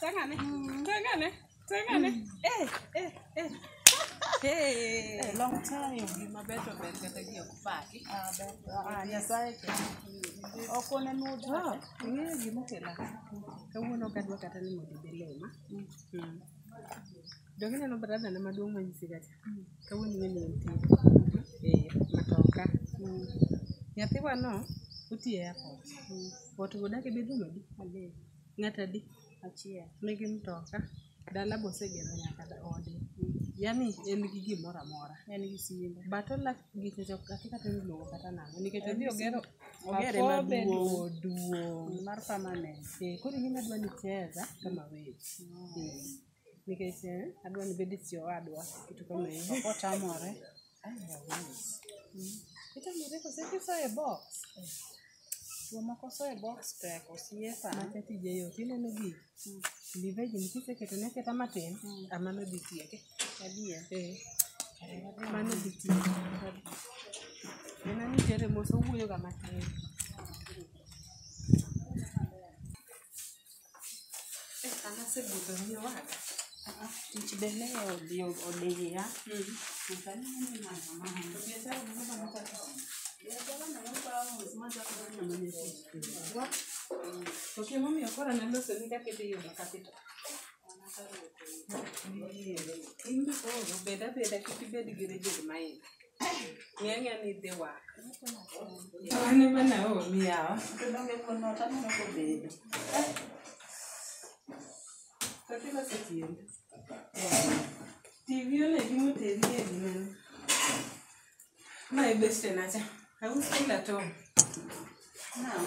Tengane. Tengane. Tengane. Eh, eh, eh. Hey. Eh, long time. Gima beto ber kata gi ok paki. Ah, beto. Ah, Nyasaye ke. Ok oneno to. Ah, ing'eyo gima okela. Kawuono ok adwa kata ni mondo idhi lima. Mm. Jogi neno brada na maduong' manyisi kacha. Kawuono ing'e ni nitie. Eh, matoka. Mm. Nyathiwano otiye airport. Mm. Watu godake bedruom adi? Adek. Ng'ato adi? Achiel. Nigi mtoka, dala be osegero nyaka ode. Yaani en gi gimoro amora. En gi simbe. But olak gike jok kata kata iluongo kata nang'o nikech odhi ogero ogere maduong' duong' mar permanent. Eh, koro in adwa ni cheza kama wewe. Eh. nikech eh, adwa ni bedi si owadwa kitu kama hiyo ok otamore itamore kose kisoye box jomoko soye box tek osiepa maka tije yot ineno gik liveji nikiseketone aketa matin amano dhi tieke adier Eh, mano dhi tieke nena ni tere mos owuoyoga matin Anasebudho ni wada. Tich be ne odhi odiya. Ok, momiyo koro naloso ni kaka idhi yudo capital. Bed abeda kik ibed gi rigid mind. Ng'eng'e ni dhi wak. Mane mana omi yawa. Donge kuno taneno kobedo. Kati wasetiende. TV one gi moteri e gimene. Ma e beste nacha. Ausi kila tong. Naam.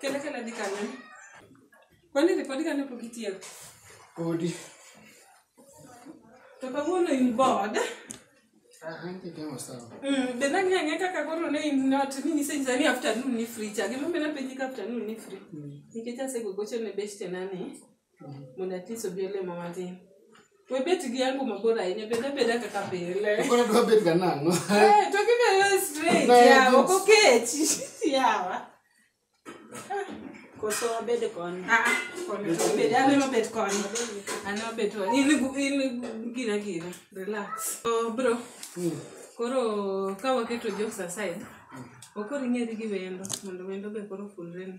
Kele kele di kane. Kwani ripodi kane pok itieko? Podi. To kawuono in bored. Ah, anche che non stavo. Mm, be nani ang'e kaka koro ne in not ni nisenyisa ni afternoon ni free cha. Gima be napenji ka afternoon ni free. Nikech asegogocho ne beshte na ni. mondo atis obi olemo matin we bet gi yangu mabor ahinya bed abeda kaka pile Koro dwa bet ga nang'o? Eh, to gibedo straight Na, yawa ok it's- okechi yawa Koso wabed koni. Ah, ah, koni to obed an ema bet koni an ema bet koni in gu- in gu- gina gina relax so bro koro ka waketo jokes aside okoro ing'eri gi wendo mondo wendo be koro fulreni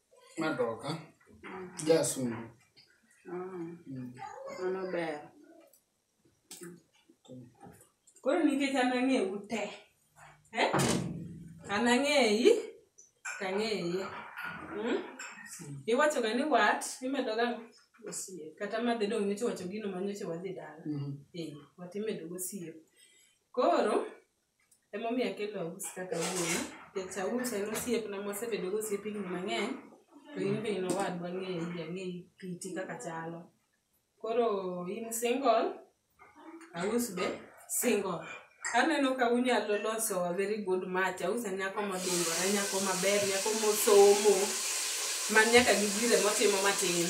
Madoka. Jasungu. Mano ber. Koro nikech an ang'ewu te. Eh? An ang'eyi, to ang'eyi. Mm? Iwachoga ni wat, imedoga osiep. Kata ma dhi dong' nyocha iwacho gino ma nyocha wadhi dala. Eh, wat imedogo osiep. Koro, Emomiyo akelo aus kaka wuoyi, nikech aus en osiepna mwasebedo go osiep higni mang'eny, to in be in owadwa ang'eyi, ang'eyi kiti kaka chalo. Koro in single, aus be single. Aneno ka unyalo loso a very good match, aus en nyako modingore, nyako maber, nyako mosomo, ma nyaka gi gire motimo matin.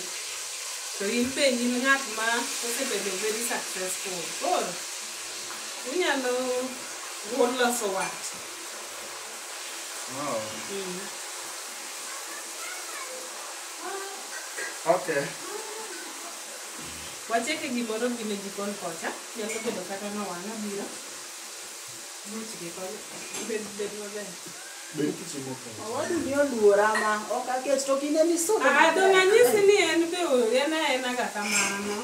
To in be in ng'at ma osebedo very successful. Koro Inyalo wuon loso wat. Wow. Mm. Okay. Wacheke gimoro gi ne jikon kocha, nyalo bedo kata na wanga biro. Much gi kon bed bed maber. Bed kichimo ka. Awadu ni oluora ma ok aket to kine ni sodo. Ah, dong' anyisi ni en be o- en aena ga kamano.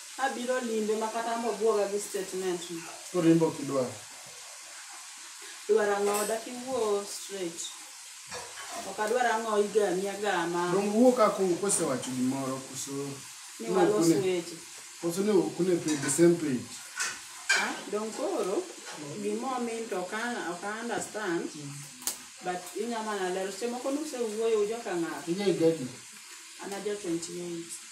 Abiro limbe ma kata ambo buoga gi statement no. Orimbo kidwa. Dwar ang'o dak iwuo straight. Ok adwar ang'o igami agama. Dong wuo ka kung kosewacho gimoro koso. Ni walos weche. Koso ne ok ne pay the same page. Ah, dong koro gimo min to ka ok understand. Mm. But inya mana lero. Semo kono se wuoyo ujoka ng'ato. Inya igadi. Ana jo 28.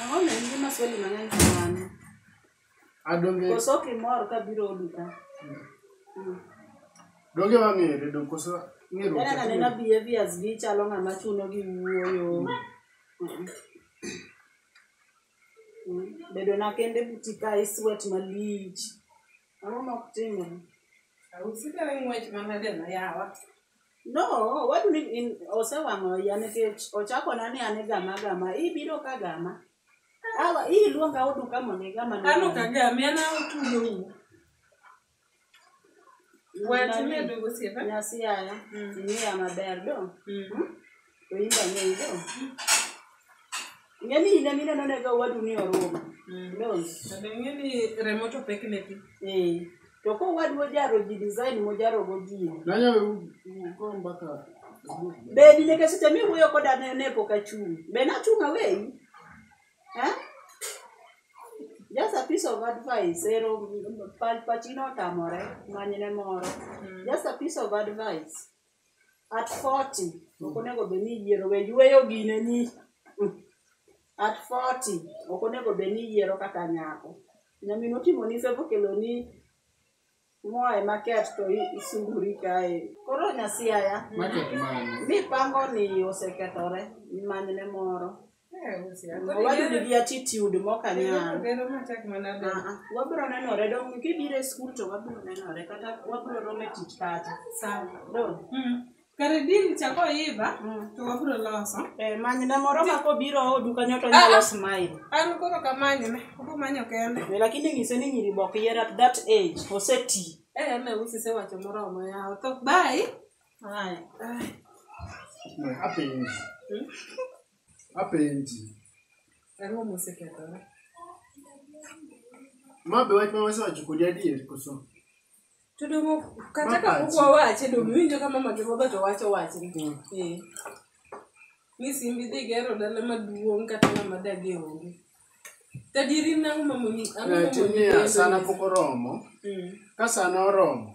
Ang'o ne nigi maswali mang'eny kamano? Adonge Koso kimor kabiro odi ka? Mm. donge wang'ere dong koso ng'eruok Kaka tek naneno ni- behaviors gi chalo ng'ama chuno gi wuoyo. Mm. Mm. Bedo na kende buti ka iswet malich. Ang'o mok timre? Usikere ng'wech manadeno yawa. No, what do you mean? in- Osewang'o iya nikech ochakona ni an igama gama. Ibiro ka gama. Awa, iyi luonga odu ka mondo igama. ni Ano gama. kagame ana otudo wu. Wet Nani? medo gosiepa. Nyasi yaya. Mm. Ing'eya maber do. Mm. Oimba ng'eyi no. Ng'eni ine mine no nego wadu ni orumo. Ndozi. Kendo ing'e ni remo to pek ne pi. Eh. To ko wadu ojaro ji design mojaro go ji. Nanya uko mbaka. Be ni nyaka seche mi wuyo koda ne ne pok achung'. Be nachung' away? Eh? Just a piece of advice, ero pal pachino otamore, manyne moro. Just a piece of advice. at 40 ok onego bed ni iyiero we yueyo gine ni mm, at 40 ok onego bed ni iyiero kata nyako nyamin otimo ni fevo kelo ni moe maket to i- isunguri kae koro nyasiaya Market man. mipango ni osekethore manyne moro Owadgi gi attitude mok anyal. Ah, ah. Wabiro nenore dong kibiro e skul to wabiro nenore kata wabiro romo e tich kacha. Dong. Mm. Kare din chako iba mm. to wabiro loso. Eh, manyne moro ma kobiro odu kanyo to nyalo ah, smile. An koro kamanyne, obo manyo kende. Eh, lakini ng'ise ni nyiri bok yier at that age, oseti. Eh, me usi se wacho moromo yawo. To bye. Haya. Apenzi. Hmm? Apenzi. Karibu museke toro. Mabe watu waweza wachukulia die kuso. Tudumu kataka kukua wache dumu winjo kama makiboga to wacho wache. Mm. Eh. Ni simbi dhi gero dala maduong' kata ng'ama dagi onge. Tadiri nang'o mamoni ang'o mamoni. Tini asana pok oromo. Mm. Ka sana oromo.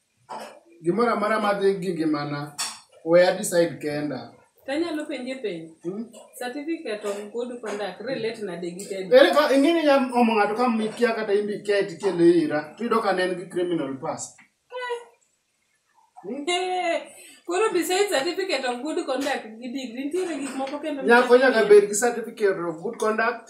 Gimoro amora madhi gi ngimana, we a decide kenda. Tanyalo penje penj. Hmm? Certificate of good conduct relate nade gi tedi? Ere ka ingini ya omo ng'ato ka mikia kata imbi ket kele ira, tudo ka nen gi criminal past. Eh. Hmm? Eh. Koro besides certificate of good conduct gi degree, nitiere gik moko kendo. Nyako nyaka bed gi certificate of good conduct.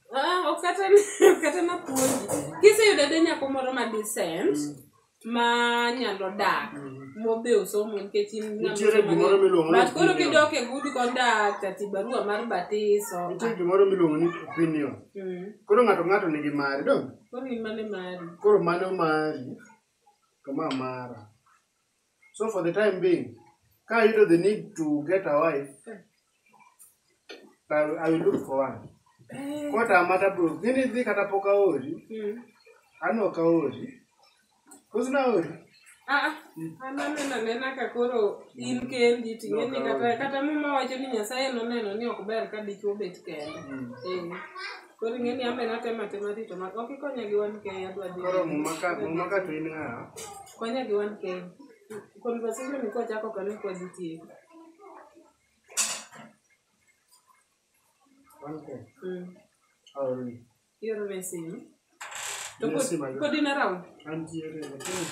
Ah, ok kata ok kata napuonji kiseyudo de nyako moro ma decent ma nyalo dak mobe osomo nikech in ng'ama Nitiere osomo gimoro ni- miluongo ni but koro opinion. kidok e good conduct ati barua mar batiso nitie gimoro miluongo ni opinion Mm. koro ng'ato ng'ato nigi mare dong koro in mane mari koro mano mari to ma mara So for the time being, ka ayudo the need to get a wife, I, I will look for one. Kotama tabro, gini dhi kata pok aori, Mm. an ok aori. Koso naori? Ah, ah. an aneno anena ka koro in kendi ting'e ni kata kata muma wacho ni nyasaye noneno ni ok ber ka dichwo bet kende Eh. Koro ing'e ni ambe natema tema rito ma ok ikonya gi wan kei adwa dhi. Koro muma ka muma ka to in ng'a? Konya gi wan kei. Conversation ni kochako kane kwa dhi tieko. Wan kei. Mm. Aori. Ioro ne simu. To Yes, kod- my lord. kodi na round. Antiere. lakini-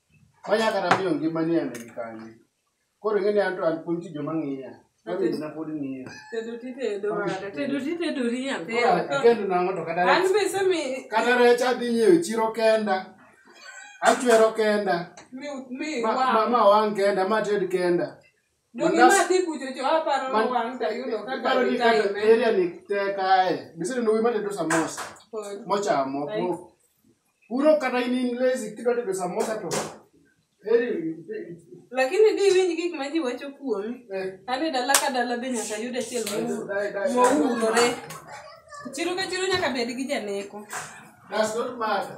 Onya kata miyo ngima ni ane kanye. Koro ing'e ni anto an kuom ji joma ng'iya. Kami na pod ng'iya. Tedo ti tedo wada. Tedo ti tedo ri nyathi. Kendo nang'o to kata. An be sami. Kata recha dhi nyiewo chiro kenda. Achwero kenda. Mi mi wa. Ma ma wang kenda ma ted kenda. Dogi Mandas- madhi kucho cho aparo Man- wang' tayudo kaka Iparo ni kata gitime. area ni tek ae. Bisene no wimane do samosa. Kod- Mochamo. Ai. po. Puro kata in in lazy kidwa tedo samosa to. Eri Lakini di winj gik ma ji wacho kuomi. eh Ane dala ka dala be nyaka yud achiel mour- Dai, dai, dai. mourore. Chiro ka chiro nyaka bed gi janeko. that's not matter.